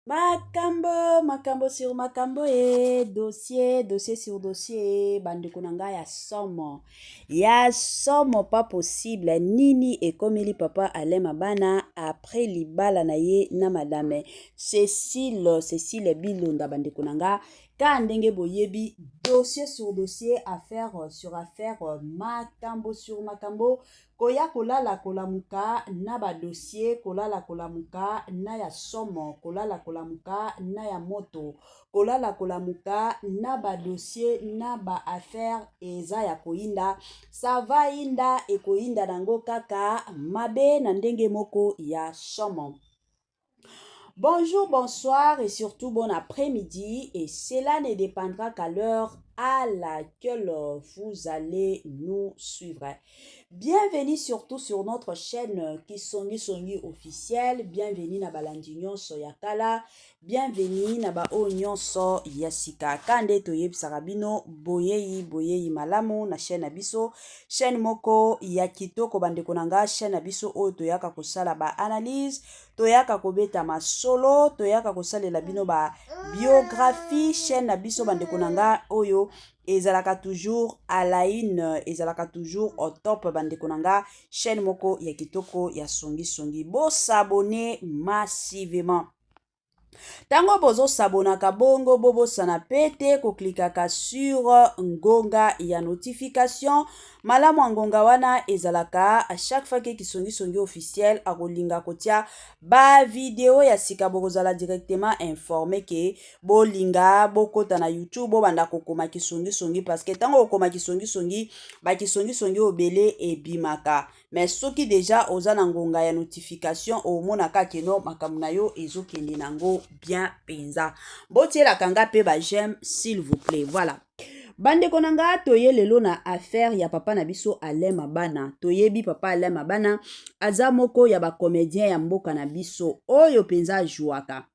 makambo makambo sur makambo e dossier dossier sur dossier e bandeko na ngai ya somo ya somo pas possible nini ekomeli papa alain mabana après libala na ye na madame cecile cecile bilonda bandeko na ngai kaka ndenge boyebi dossier sur dossier affaire sur affaire makambo sur makambo Koya kolala kolamuka na ba dossiers, kolala kolamuka na ya somo, kolala kolamuka na ya moto, kolala kolamuka na ba dossiers na ba affaires eza ya koyinda, ça va yinda, ekoyinda nango kaka mabe na ndenge moko ya somo. Bonjour, bonsoir et surtout bon après-midi et cela ne dépendra qu'à l'heure à laquelle vous allez nous suivre. Bienvenue surtout sur notre chaîne Kisongi Songi officiel. Bienvenue na balandi nyonso ya kala. Bienvenue na ba oyo nyonso ya sika. Kande toyebisaka bino boyeyi boyeyi malamu na chaîne na biso. Chaine moko ya kitoko bandeko na nga, chaine na biso oyo toyaka kosala ba analyse, toyaka kobeta masolo, toyaka kosalela bino ba biographie, chaine na biso bandeko na nga oyo ezalaka toujours à la une, ezalaka toujours au top bandeko na nga, chaine moko ya kitoko ya songi songi. Bo s'abonner massivement. Tango bozo sabonaka bongo bobosana pe te koklikaka sur ngonga ya notification. Malamu ya ngonga wana ezalaka a chaque fois ke Kisongi Songi officiel akolinga kotia ba video ya sika bokozala directement informe ke bolinga bokota na YouTube bobanda kokoma Kisongi Songi parce que tango okoma Kisongi Songi ba Kisongi Songi obele ebimaka. mais soki deja oza na ngonga ya notification omonaka ke no makambo na yo ezokende na yango bien mpenza botielaka nga mpe ba j'aime s'il vous plaît voilà bandeko na nga toye lelo na affaire ya papa na biso alain mabana toyebi papa alain mabana aza moko ya bacomédien ya mboka na biso oyo mpenza ajuaka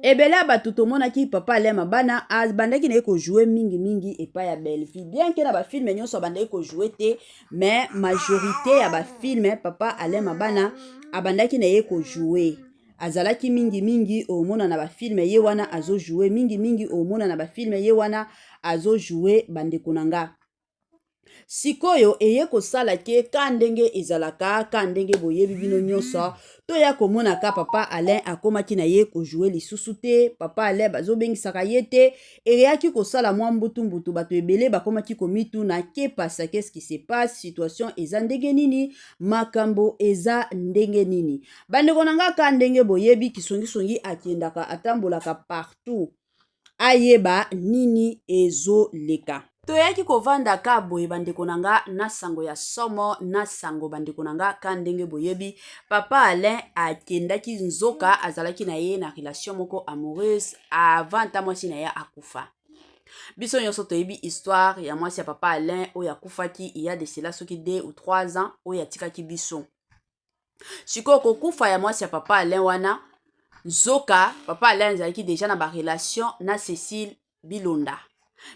ebele ya bato tomonaki papa alema bana abandaki na ye kojoue mingimingi epai ya bellevue bien ke na bafilme nyonso abandaki kojoue te mais majorité ya bafilme papa alema bana abandaki na ye kojoue azalaki mingimingi omona na bafilme ye wana azojoue mingimingi omona na bafilme ye wana azojoue bandeko na nga sikoyo eye kosala ke ka ndenge ezalaka ka ndenge boyebi bino nyonso toya komona ka papa alain akomaki na ye kojoue lisusu te papa alain bazobengisaka ye te eyaki kosala mwa mbutumbutu bato ebele bakomaki komituna ke pasa qu'est-ce qui se passe situation eza ndenge nini makambo eza ndenge nini bandeko na nga ka ndenge boyebi kisongisongi akendaka atambolaka partout ayeba nini ezoleka. Toyaki kovanda ka boye bandeko na nga na sango ya somo na sango bandeko na nga ka ndenge boyebi papa Alain akendaki nzoka azalaki na ye na relation moko amoureuse avant ata mwasi na ye akufa biso nyonso toyebi histoire ya mwasi ya papa Alain oyo akufaki iya de cela soki 2 ou 3 ans oyo atikaki biso sikoyo kokufa ya mwasi ya papa alain wana nzoka papa alain azalaki deja na barelation na cecile bilonda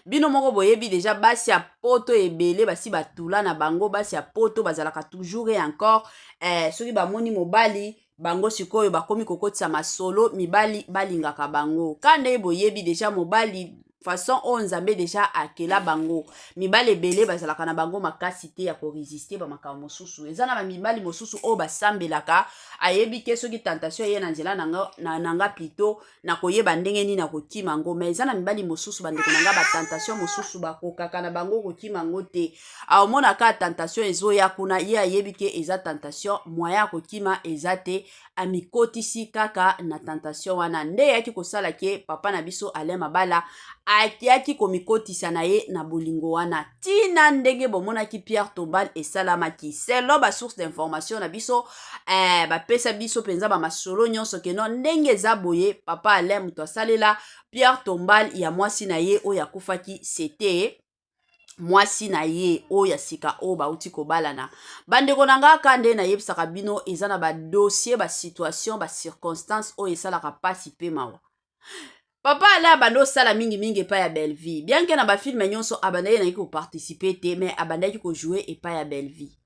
bino moko boyebi deja basi ya poto ebele basi batula na bango basi ya poto bazalaka toujours e encore eh, soki bamoni mobali bango sikoyo bakomi kokotisa masolo mibali balingaka bango ka ndenge boyebi deja mobali façon oyo nzambe deja akela bango mibali ebele bazalaka na bango makasi te ya koresiste bamakambo mosusu eza na bamibali mosusu oyo basambelaka ayebi te soki tentation eye na nzela na nga plito na koyeba ndenge nini akokima yango mai eza na mibali mosusu bandeko na nga batentation mosusu bakokaka na bango kokima yango te aomonaka tentation ezoya kuna ye ayebi te eza tentation moyen ya kokima eza te amikotisi kaka na tentation wana nde eyaki kosala ke papa na biso Alain Mabala ayaki komikotisa na ye na bolingo wana tina ndenge bomonaki Pierre Tombal esalamaki selon ba source d'information na biso eh, bapesa biso mpenza bamasolo nyonso keno ndenge eza boye papa Alain moto asalela Pierre Tombal ya mwasi na ye oyo akufaki sete mwasi na ye oyo ya sika oyo bauti kobalana bandeko na ngai ka nde nayebisaka bino eza na badossier basituation bacirconstance oyo esalaka mpasi mpe mawa papa ale abandi osala mingimingi epai ya bellevie bianke na bafilme nyonso abandaki nayaki koparticipe te mai abandaki kojoue epai ya bellevie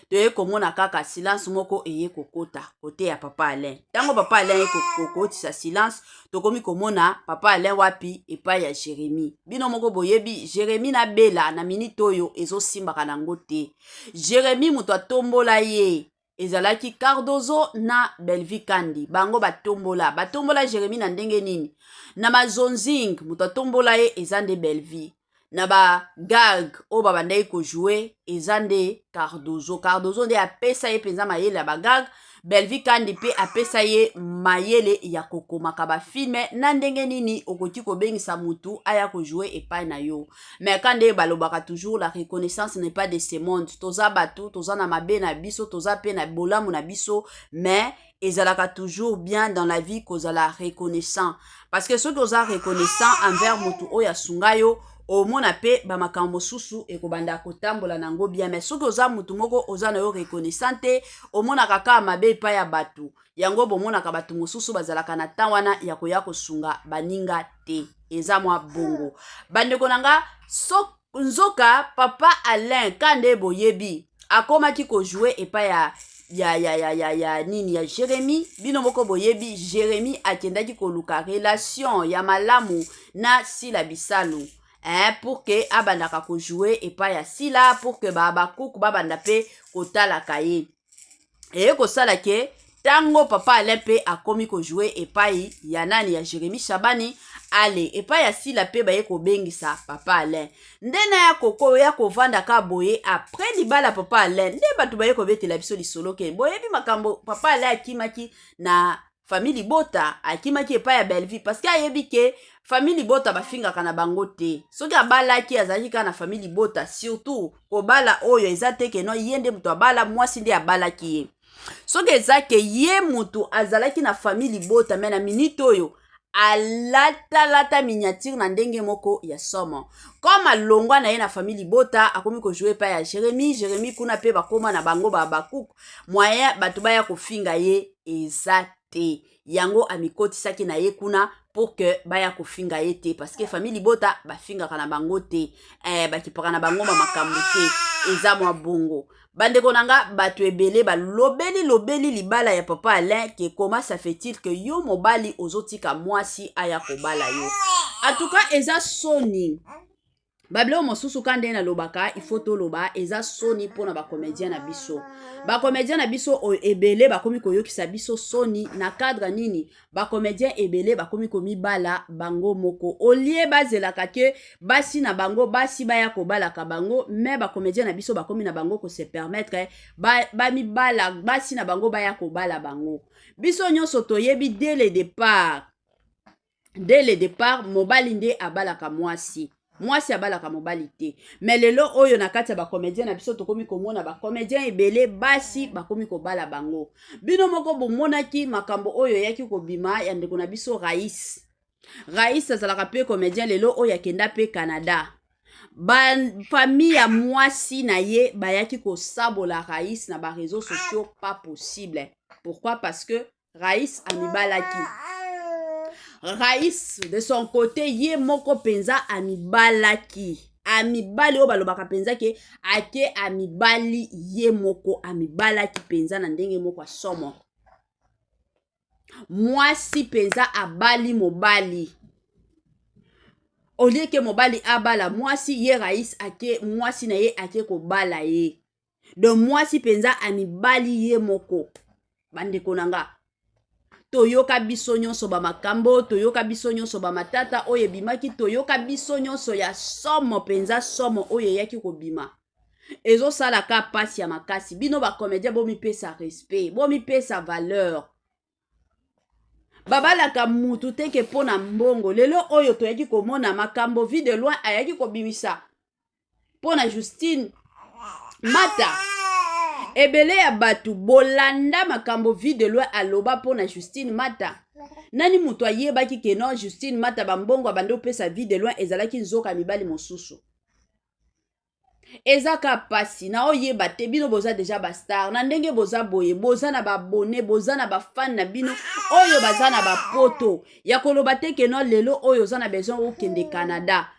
toye komona kaka silence moko eye kokota kote ya papa alain ntango papa alain ye kokotisa silence tokomi komona papa alain wapi epai ya jeremi bino moko boyebi jeremi na bela na minite oyo ezosimbaka nango te jeremi moto atombola ye ezalaki cardozo na belvi kandi bango batombola batombola jeremi na ndenge nini na mazonzing moto atombola ye eza nde belvi na ba gag oyo babandaki kojoue eza nde cardozo cardozo nde apesa ye mpenza mayele ya bagag belvi kandi mpe apesa ye mayele ya kokomaka bafilme na ndenge nini okoki kobengisa motu aya kojoue epai na yo me ka nde balobaka toujours la reconnaissance n'est pas de ce monde toza bato toza na mabe na biso toza mpe na bolamu na biso me ezalaka toujours bien dans la vie kozala reconnaissant parce que soki oza reconnaissant envers motu oyo asunga yo omona mpe bamakambo mosusu ekobanda kotambola na yango bien mais soki oza motu moko oza na yo reconnaissant te omonaka kaka mabe epai ya bato yango bomonaka bato mosusu bazalaka na ntan wana ya koya kosunga baninga te eza mwa bongo bandeko na nga soki Nzoka papa Alain kande boyebi akomaki ko jouer epai ya ya ya ya ya ya nini ya Jeremie bino moko boyebi Jeremie akendaki koluka relation ya malamu na Sila Bisalu eh, pour que abandaka ko jouer epai ya Sila pour que ba Habacuc babanda pe kotalaka ye eye kosala ke ntango papa alain mpe akomi kojoue epai ya nani ya jeremi shabani ale epai ya sila mpe baye kobengisa papa alain nde na ya koko ya kovanda ka boye apres libala papa alain nde bato baye kobetela biso lisolo ke boyebi makambo papa alain akimaki na famille libota akimaki epai ya bellevue parce que ayebi ke famille libota bafingaka na bango te soki abalaki azalaki kaka na famille libota surtout kobala oyo eza te keno ye nde moto abala mwasi nde abalaki ye soki eza ke ye moto azalaki na famille libota me na minite oyo alatalata miniatire na ndenge moko ya somo comme alongwa na ye na famille libota akomi kojoue epai ya jeremi jeremi kuna mpe bakoma na bango babakuku moyen bato baya kofinga ye eza te yango amikotisaki na ye kuna pour que baya kofinga ye te parce que famille libota bafingaka na bango te eh, bakipaka na bango ma makambo te eza mwa bongo bandeko na nga bato ebele balobeli lobeli libala ya papa alain ke koma ça fait-il que yo mobali ozotika mwasi aya kobala yo en tout cas eza soni babiloko mosusu ka nde nalobaka ifo toloba eza soni mpo na bakomedien na biso bakomedien na biso oyo ebele bakomi koyokisa biso soni na cadre nini bakomedien ebele bakomi komibala bango moko olie bazelaka ke basi na bango basi baya kobalaka bango me bakomedien na biso bakomi na bango kose permettre bamibala ba basi na bango baya kobala bango biso nyonso toyebi dès le départ dès le départ mobali nde abalaka mwasi mwasi abalaka mobali te me lelo oyo na kati ya bacomédien na biso tokomi komona bacomédien ebele basi bakomi kobala bango bino moko bomonaki makambo oyo eyaki kobima ya ndeko na biso rais rais azalaka mpe comédien lelo oyo akenda mpe canada bafamille ya mwasi na ye bayaki kosabola rais na bareseau sociaux pas possible pourquoi parce que Rais amibalaki. Rais de son côté ye moko mpenza amibalaki. Amibali oyo balobaka mpenza ke ake amibali ye moko amibalaki mpenza na ndenge moko ya somo. Mwasi mpenza abali mobali olie ke mobali abala mwasi ye rais ake mwasi na ye ake kobala ye donc mwasi mpenza amibali ye moko bandeko na nga toyoka biso nyonso bamakambo toyoka biso nyonso bamatata oyo ebimaki toyoka biso nyonso ya somo mpenza somo oyo eyaki kobima ezosala ka mpasi ya makasi bino bacomédien bomipesa respect bomipesa valeur babalaka mutu te ke mpo na mbongo lelo oyo toyaki komona makambo vie de loin ayaki kobimisa mpo na justine mata ebele ya bato bolanda makambo vie de loi aloba mpo na justine mata nani moto ayebaki ke non justine mata bambongo abandi opesa vie de loin ezalaki nzoka mibali mosusu eza ka mpasi na oyeba te bino boza deja bastar na ndenge boza boye boza na babone boza na bafane na bino oyo baza na bapoto ya koloba te keno lelo oyo oza na besoin okende canada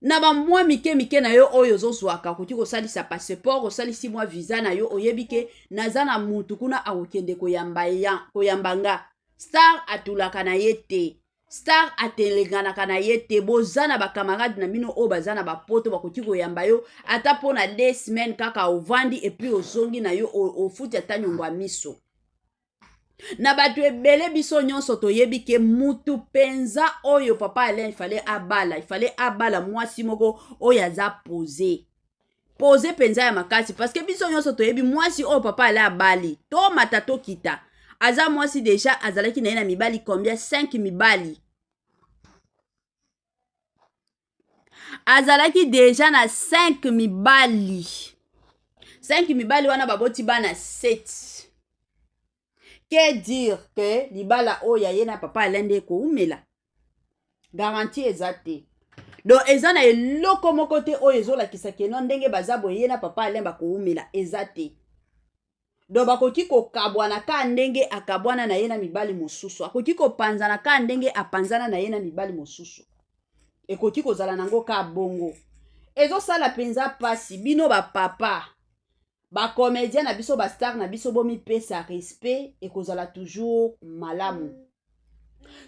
na bamwa mike mike na yo oyo ozozwaka okoki kosalisa passeport osalisi mwa visa na yo oyebi ke naza na mutu kuna akokende koyamba, ya, koyamba nga star atulaka na ye te star atelenganaka na ye te boza na bakamarade na bino oyo baza na bapoto bakoki koyamba yo ata mpo na de semaine kaka ovandi epuis ozongi na yo ofuti ata nyongo ya miso na bato ebele biso nyonso toyebi ke mutu mpenza oyo papa alain ifale abala ifale abala mwasi moko oyo aza pose pose mpenza ya makasi parceke biso nyonso toyebi mwasi oyo papa alain abali tomata tokita aza mwasi deja azalaki na ye na mibali combien 5 mibali azalaki deja na 5 mibali 5 mibali wana baboti bana 7 que dire que libala oyo ya ye na papa alain nde ekoumela garanti eza te donc eza na eloko moko te oyo ezolakisa keno ndenge baza boye ye na papa alain bakoumela eza te donc bakoki kokabwana kaka ndenge akabwana na ye na mibali mosusu akoki kopanzana kaka ndenge apanzana na ye na mibali mosusu ekoki kozala nango kaka bongo ezosala mpenza mpasi bino bapapa bacomédien na biso bastar na biso bomipesa respect ekozala toujours malamu mm.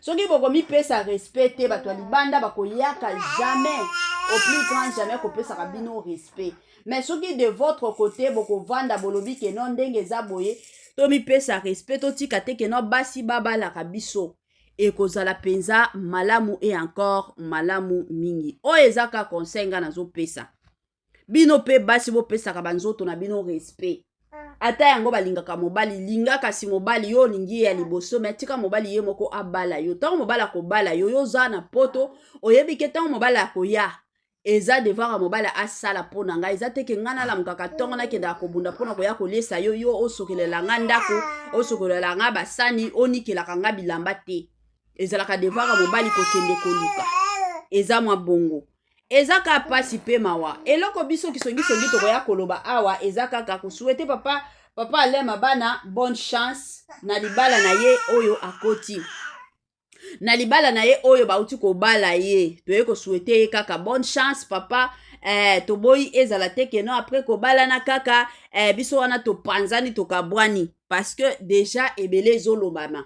soki bokomipesa respect te bato ya libanda bakoyaka jamais au plus grand jamais kopesaka bino respect mais soki de votre côté bokovanda bolobi ke non ndenge eza boye tomipesa respect totika te ke non basi babalaka biso ekozala mpenza malamu e encore malamu mingi oyo eza ka conseil ngai nazopesa bino mpe basi bopesaka banzoto na bino respect ata yango balingaka mobali linga kasi mobali yo olingi ye ya liboso me tika mobali ye moko abala yo ntango mobali akobala yo yo oza na poto oyebi ke ntango mobali akoya eza devoir ya mobali asala mpo na ngai eza te ke ngai nalamukaka ntongo nakendaka kobunda mpo na koya koliesa yo yo osokelela ngai ndako osokelela ngai basani onikelaka ngai bilamba te ezalaka devoir ya mobali kokende koluka eza mwa bongo eza kaka mpasi mpe mawa eloko biso kisongisongi tokoya koloba awa eza kaka kosuete papa papa alain mabana bonne chance na libala na ye oyo akoti na libala na ye oyo bauti kobala ye toye kosuete ye kaka bonne chance papa eh, toboyi ezala te keno apres kobalana kaka eh, biso wana topanzani tokabwani parce que deja ebele ezolobama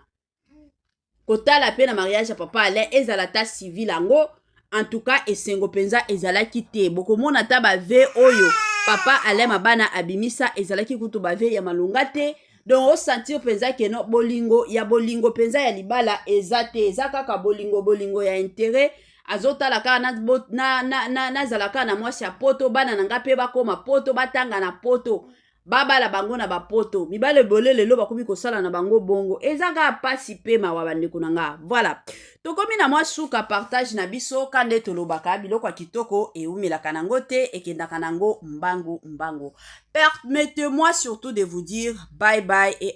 kotala mpe na mariage ya papa alain ezala ata civil yango en tout cas esengo mpenza ezalaki te bokomona ata bave oyo papa alain mabana abimisa ezalaki kutu bave ya malonga te donc osentir mpenza keno bolingo ya bolingo mpenza ya libala eza te eza kaka bolingo bolingo ya intere azotala kaka nazala na, na, na, na, na mwasi ya poto bana na ngai mpe bakóma poto batanga na poto babala bango na bapoto mibale ebele lelo bakomi kosala na bango bongo eza kaka mpasi mpe mawa bandeko na nga voilà tokomi na mwa suka partage na biso ka nde tolobaka biloko ya kitoko eumelaka nango te ekendaka nango mbangu mbangu permettez-moi surtout de vous dire bye bye et